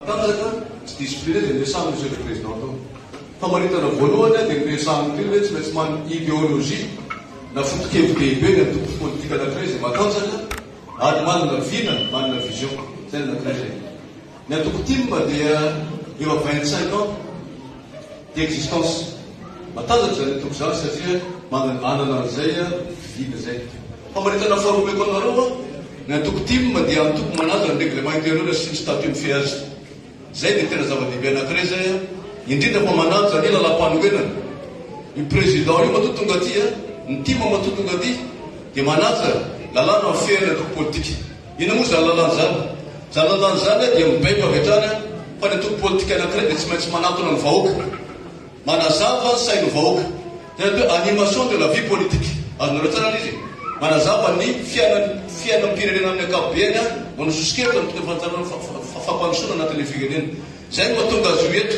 Tanjaka, tsy diso mpirenena dia miasano Monsieur le Président tao. Famaritana voalohany aho dia ny resahan'ny mpino hoe tsy maintsy manana idéologie na foto-kevi-dehibe ny antoko politika anankiray izay matanjaka ary manana vina, manana vision. Izay ny anankiray izay. Ny antoko tim dia efa vingt-cinq ans. d'existence. Matanjaka izany toby izany satria manana an'izay vidiana izay. Famaritana faharoa omeko anareo an, ny antoko tim dia antoko manaja ny règlement intérieur sy ny statut ny feaz. Izay dia tena zava-dehibe anankiray izay an, indrindra fa manaja ny lalam-panorenana. Io président io matoa tonga aty an, ny tim matoa tonga aty dia manaja lalàna mifehy ny antoko politika. Inona moa izany lalàna izany? Izany lalàna izany dia mibaiko avy hatrany fa ny antoko politika anankiray dia tsy maintsy manatona ny vahoaka, manazava ny sain'ny vahoaka. Izany atao hoe animation de la vie politique. Azonareo tsara ilay izy e? Manazava ny fiainan'ny fiainam-pirenena amin'ny ankapobeny, manao sosokevitra ny tokony ho fampandrosoana anatin'ilay firenena. Izay no mahatonga azy io eto.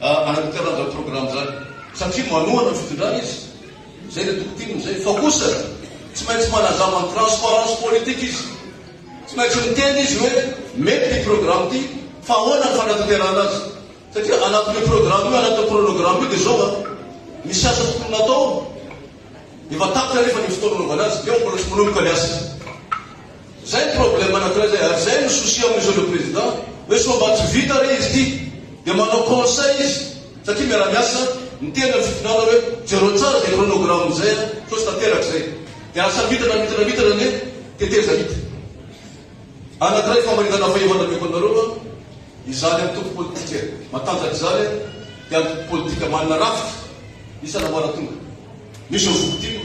Araka ny karazan'ny programa izany, satria manohana ny fitondrana izy, izay ilay toko tiany amin'izay, fa kosa tsy maintsy manazava ny transparence politique izy. Tsy maintsy miteny izy hoe mety ity programa ity, fa ahoana ny fanatanterahana azy. Satria anatin'io programa io, anatin'io chronogramme io dia izao an, misy asa tokony natao, efa tapitra anefa ny fotoana hanaovana azy, dia ao mbola tsy manomboka ny asa. Zay ny problème anankiray zay ary zay no souci am monsieur le président hoe sao mba tsy vita re izy ty dia manao conseil izy satria miaramiasa miteny am fitondrana hoe jereo tsara zay chronogramme zay a sao tsy tanteraka zay dia asa mitana mitana mitana anie teteza hita anankiray famaritana fahefa nameko anareo a izany antoko politika matanjaka izany dia antoko politika manana rafitra isa namara tonga misy ao zokitim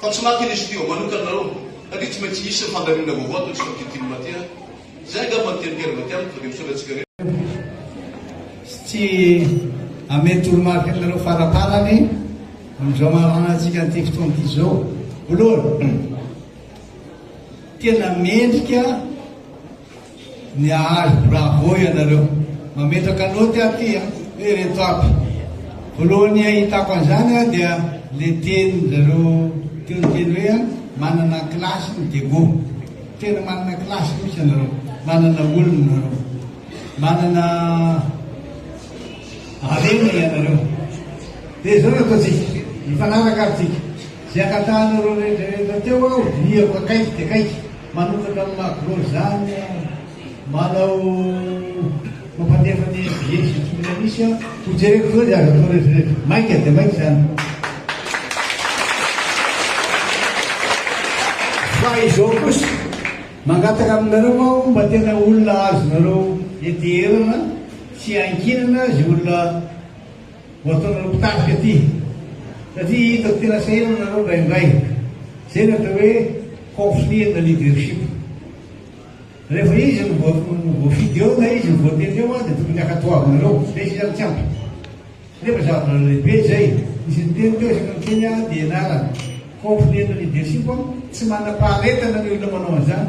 Fa tsy maty izy teo manokana nareo satria tsy maintsy hisy ny fandaminana vaovao toy ny sokajintin'ny maty a! Izay angamba no tian'i Pierre Matianina tonga dia misaotra antsika rehetra. Sy tsy hamely toromarika aminareo faraparany amin'izao maha-anantsika an'ity fotoana ity izao. Voalohany, tena mendrika. Niahazo bravo ianareo. Mametraka note aho ty a! Hoe reto aby. Voalohany ahitako an'izany aho dia le tenin-dry zareo teo niteny hoe a, manana classe ny Diego. Tena manana classe mihitsy ianareo. Manana olona ianareo. Manana harena ianareo. Dia izao no ataontsika. Mifanaraka ary tsika. Izay angatahanareo rehetrarehetra teo aho dinihako akaiky dia akaiky, manokatra amin'ny maha gros izany aho, manao mampandefa ny NBA sy ny tokony hanisy aho, ho jereko izao izay azo atao rehetrarehetra. Maika dia maika izany. Fa izao kosa, mangataka aminareo aho mba tena olona azonareo enteherana sy iankinana izay olona. Vao ataonareo mpitarika ity satria hitako tena sahirana nareo indraindray. Zay ny atao hoe conflit ana leadership. Rehefa izy no voafidy eo na izy no voatendry eo an dia tokony hakatoavinareo fa izy izany tsy ampy. Nefa zava lehibe zay. Nisy niteny teo isaka miteny an dia ianarana. Conflit ana leadership an, tsy manam-paharetana ny olona manao an'izany.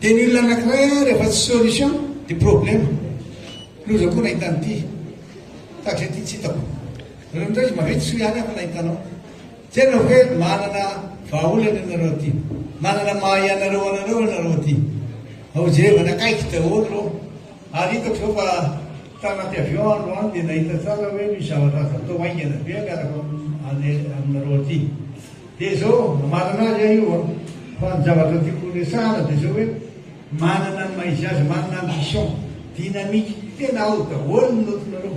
Dia ny olona anakiray an rehefa tsy solution dia problème. Loza koa nahita an'ity. Tahak'izay ity tsy hitako. Nareo indray izy maventy soa ihany aho fa nahita anao. Jereo hoe manana vahaolana ianareo aty. Manana maha ianareo anareo ianareo aty. Ao Jehovah nakaiky daholo ireo. Ary hitako izao fa tanaty avion aho androany dia nahita tsara hoe misy zavatra azo atao haingana be miaraka aminareo aty. Dia izao, hamarana azy aho io an! fa ny zavatra tiako horesahana dia izao hoe manana ny maha izy azy, manana ambition, dynamique, tena ao daholo ny note-nareo.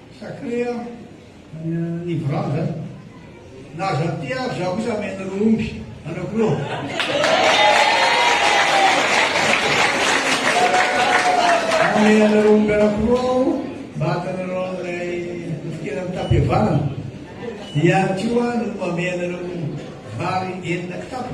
Sacré an, ny vava an, na aza aty ary za kosa ameno ry omby anao koa. Omena anareo omby anankiroa aho mba hatanareo an'ilay fofonkena mitam-pihavanana. Ihany koa no mamehy anareo vary enina kitapo.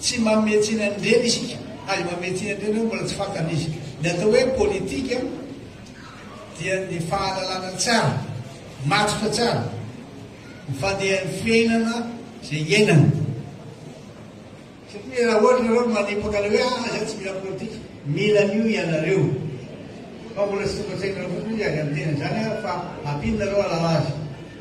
Tsy manome tsiny an'ireny isika. Aza manome tsiny an'ireny hoe mbola tsy fantany izy. Ny atao hoe politika dia ny fahalalana tsara, matotra tsara ny fandehan'ny fiainana izay iainana. Satria raha ohatra ianareo no manipaka ilay hoe ah izaho tsy mila politika, mila an'io ianareo. Fa mbola tsy tonga an-tsainareo fotsiny izy, ary amin'ny teny an'izany aho fa ampianareo hahalala azy.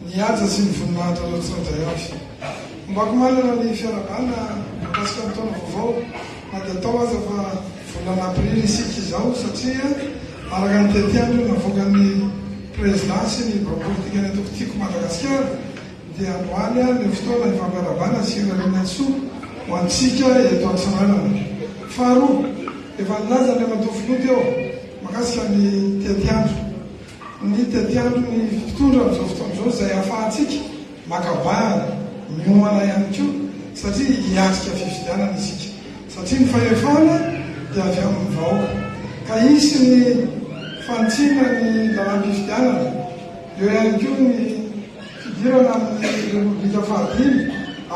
Nihaja sy nivoninahitra an'Ratsirajay avy. Ombako manana ny fiarahabana mikasika ny taona vaovao na dia atao aza fa volana aprily isika izao satria araka ny tetiandro navoakan'ny Prezidà sy ny bloc politikany eto Kitiko Madagasikara dia androany ary no fotoana hifampiarahabana sy hirariana ny soa ho antsika eto Antsiranana. Faharoa, efa nilaza Andriamatoa Filoha teo mikasika ny tetiandro. Ny tetiandron'ny mpitondra amin'izao fotoana izao izay ahafahantsika maka bahana, miomana ihany koa satria hiatrika fifidianana isika satria ny fahefana dia avy amin'ny vahoaka ka hisy ny fanitsiana ny lalam-pifidianana, eo ihany koa ny fidirana amin'ny Repoblika fahadimy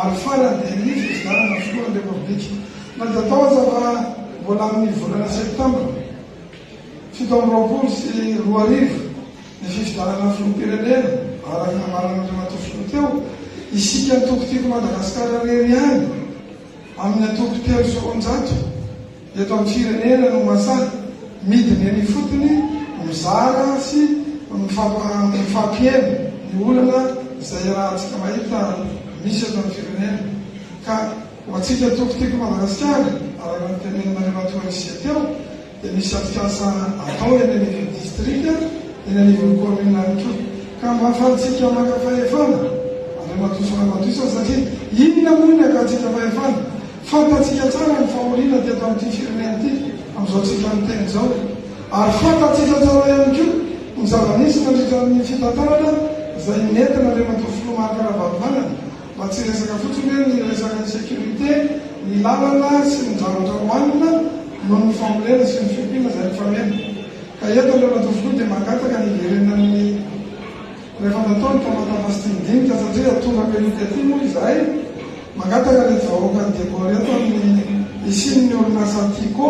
ary farany dia ny fifidianana filohan'ny Repoblika na dia atao aza fa mbola amin'ny volana septambra. Fito amby roapolo sy roa arivo, ny fifidianana filoham-pirenena, araka ny nambaran'Andriamatoa Filoha teo, isika antoko Tiako Madagasikara irery ihany amin'ny antoko telo sy roanjato eto amin'ny firenena no masahy midina eny ifotony mizara sy mifampiheno ny olana izay iarahantsika mahita misy eto amin'ny firenena ka ho antsika antoko Tiako Madagasikara, araka ny tenenin'Andriamatoa Rizia teo, dia misy atrikasa atao eny anivon'ny distrika, eny anivon'ny kaominina ihany koa. Ka mba ahafahantsika maka fahefana, Andriamatoa sy Ramatoa isany, satria inona moa ny hakantsika fahefana? Fantatsika tsara ny fahoriana teto amin'ity firenena ity amin'izao tsika miteny izao. Ary fantatsika tsara ihany koa ny zava-nisy nandritra ny fitantanana izay nentin'Andriamatoa Filoha Marc Ravalomanana. Mba tsy resaka fotsiny hoe ny resakan'ny sécurité, ny lalana sy ny zavatra hohanina noho ny fambolena sy ny fiompiana izay mifameno. Ka eto ireo ratovokoa dia mangataka ny hiverenan'ny rehefa natao ny famatava sy dinidinika satria atoraka io tety io moa izahay. Mangataka reto vahoaka ny Degôly eto amin'ny hisian'ny orinasa Tiko.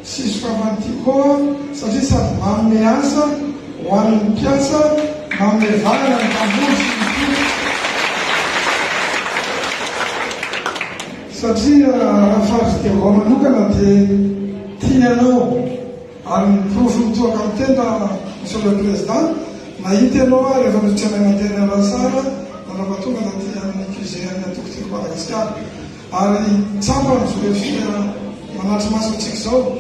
Tsy sokafan'ity koa satria sady manome asa ho an'ny mpiasa, manome valana ny mpamboly sy ny mpino satria raha faritry Devoa manokana dia tiany anao ary ny porofo mitohaka amin'ny tenda Monsieur le Président, nahita ianao aho rehefa notseraina teny Alasara nanapatonga taty amin'ny QG an'ny Antoko Tiako Madagasikara. Ary tsapa ny firefiha manatri-maso antsika izao,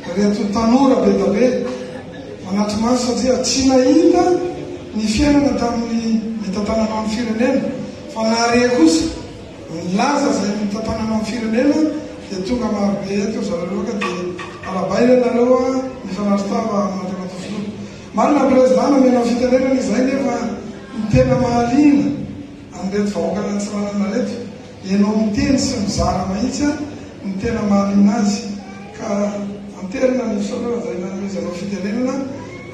ireto tanora bedabe manatri-maso satria tsy nahita ny fiainana tamin'ny nitantananao ny firenena fa nahare kosa ny laza izay nitantananao ny firenena dia tonga marobe eto ry zareo loha ka dia arabaina ianareo a mifanatri tava amin'Andriamatoa Filoha. Marina ny Président nomenao fitenenana izay nefa ny tena mahaliana an'ireto vahoaka nantsiranana ireto Ianao miteny sy mizara mahitsy an ny tena mahaliana azy ka antelina ny episode raha zay nanomezanao fitenenana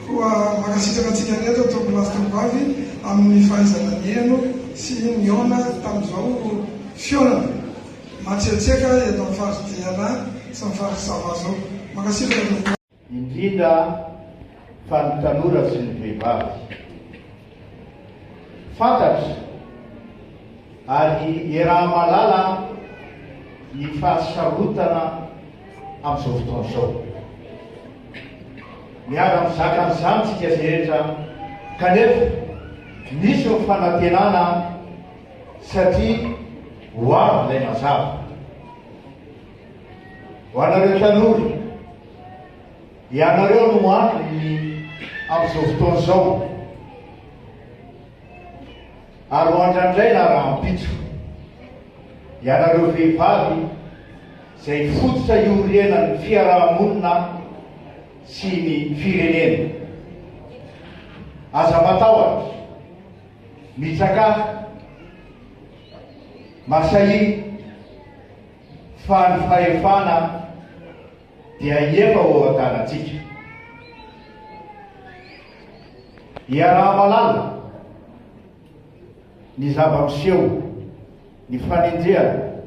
koa mankasitraka antsika rehetra tompoko lahy sy tompobavy amin ny fahaizana niheno sy nihaona tamin zao fihaonana matsiatsiaka eto amin faritra diana sy ny faritra sava zao mankasitraka tompoko lahy. indrindra fa ny tanora sy ny vehivavy. Fantatra ary iaraha-mahalala ny fahasarotana amin'izao fotoana izao. Miara-mizaka an'izany isika rehetra kanefa misy ny fanantenana satria ho avy ilay mazava. Ho anareo tanora, ianareo no antony amin'izao fotoana izao, ary ho andrandraina rahampitso. Ianareo vehivavy izay fototra iorenan'ny fiaraha-monina sy ny firenena. Aza matahotra, mitsakafo, masahia, Fa ny fahefana dia efa ho ao an-tanantsika. Iaraha-mahalala ny zava-miseho, ny fanenjehana,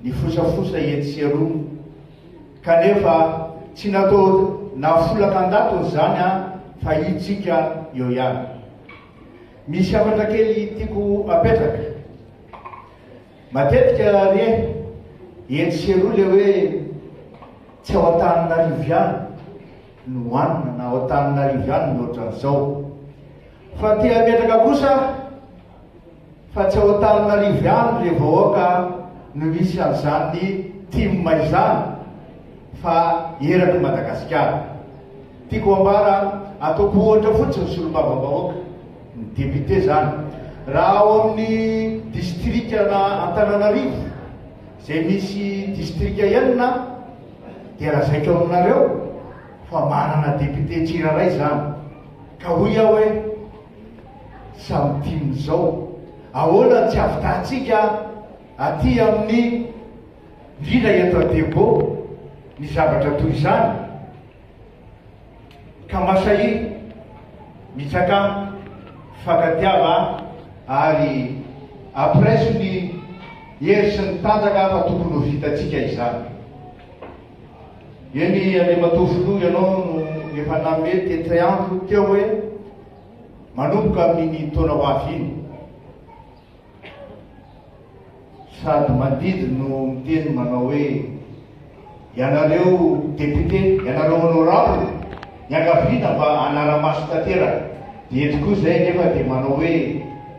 ny fosafosa etsy sy eroa, kanefa tsy natao nahafolaka an-datony izany an, fa hitsika eo ihany. Misy hafatra kely tiako apetraka. Matetika ry eh, etsy sy eroa le hoe tsy ao Antananarivo ihany no hanina na ao Antananarivo ihany no ohatran'izao. Fa te hametraka kosa aho fa tsy ao Antananarivo ihany le vahoaka no misy an'izany tim izany fa eraky Madagasikara. Tiako ambara ataoko ohatra fotsiny solombavambahoaka. ny député zany raha ao amin'ny distrika na Antananarivo izay misy distrika enina dia lazaiko aminareo fa manana député tsirairay zany ka hoy aho hoe samy tim zao ahoana ny tsy avitahantsika aty amin'ny indrindra eto Adebo ny zavatra toy izany Ka mba sahiny mitsaka fankatiava ary ampireso ny hery sy ny tanjaka fa tokony ho vitantsika izany. Eny Andriamatoa Filoha ianao no efa nanome tetik'ay andro teo hoe manomboka amin'iny taona ho avy iny. Sady mandidy no miteny manao hoe ianareo député, ianareo honorable, niangaviana mba hanara-maso tanteraka. Dia eto koa izay anefa dia manao hoe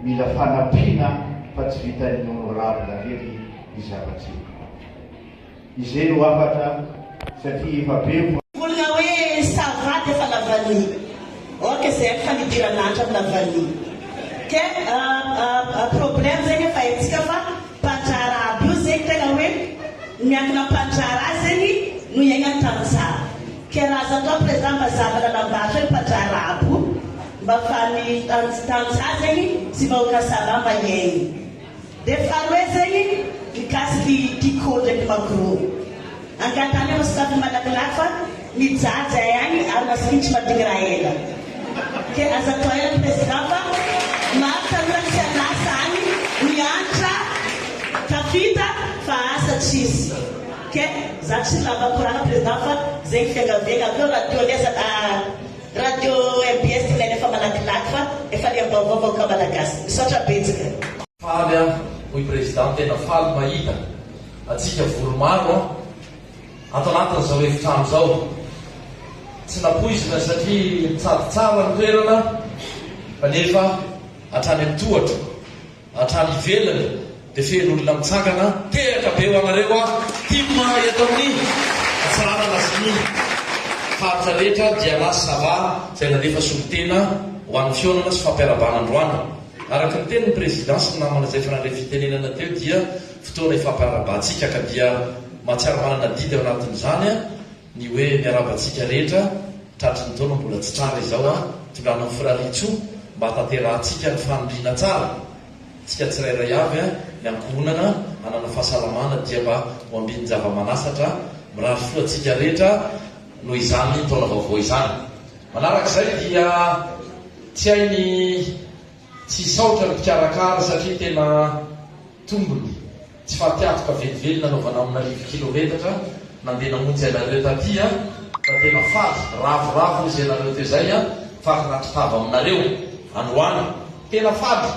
mila fanampiana fa tsy vitan'ny honorable rery ny zava-tsy. Izay no hafatra satria efa be ny. Olona hoe ça va dia efa lavani ok zay ny fanidiran'Atra ny lavani ke a problème zegny efa haintsika fa mpandraharaha aby io zegny tegna hoe miankina am mpandraharaha zegny no hiaignany tantsaha ke raha azo atao président mba zava lalam-bato hoe mpandraharaha aby io mba afahan'ny tantsaha zegny sy vahoaka ça va mba hiaigny. Dia faharoe zay mikasika i Tiko ndraiky Magro. Angatany aho sady malakilaky fa mijaly zay agny ary masikitry madigny raha ela. Ke aza tohaina President fa maro tanora tsy an'asa agny miantra tafita fa asa tsisy. Ke za tsy lava koragna President fa zegny fiangaviagna. Aleo radio anie azalahy. Radio mbs ilaina efa malakilaky fa efa liam-baovao vahoaka malagasy. Misaotra betsaka. Faly aho hoy Président tena faly mahita atsika vory maro an ato anatin'izao efitrano zao tsy napoizina satria nitsady tsara ny toerana fa nefa hatrany amin'ny tohatra Hatrany ivelany dia feno olona mitsangana tehaka be ho anareo aho tim mahay eto amin'ny atsaharana sy ny faritra rehetra Diana sy Sava izay nandefa solontena ho an'ny fihaonana sy fampiarabana androany Araka ny tenin'ny Prezida sy ny namana izay efa nandray fitenenana teo dia fotoana ifampiarabahantsika ka dia mahatsiaro manana adidy ao anatin'izany Ny hoe miarahaba antsika rehetra tratry ny taona mbola tsy tranga izao an! Tondrahanao Firariantsoa mba hatanterahantsika ny fanindriana tsara tsika tsirairay avy an! Ny ankohonana hanana fahasalamana dia mba ho ambin'ny java-manasatra an! Mirary soa antsika rehetra noho izany taona vaovao izany! Manarak'izay dia tsy hay ny. Tsy hisaotra ny mpikarakara satria tena tombony tsy fatiatoka velively nanaovana amina arivo kilometatra nandeha namonjy anareo taty an! Fa tena faly, ravoravo hozy ianareo teo zay an! Faly nahatotava aminareo androany! Tena faly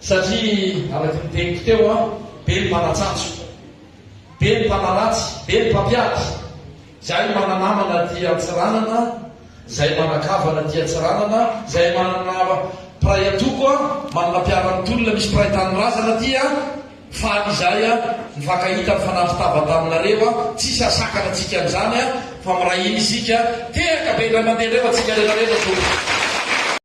satria araky ny teniko teo an! Be ny mpanatsatso, be ny mpanaratsy, be ny mpampiady. Zay mana namana aty Antsiranana Zay mana kavana aty Antsiranana Zay manana mpiray antoko a Manana mpiara mitolona Misy mpiray tanindrazana aty a Faly izahay a Nifankahita Nifanafy tava taminareo a Tsisy hasakana antsika an'izany a Fa miray hina isika Tehaka be indray mandeha Leo antsika rehetra rehetra Tompoko.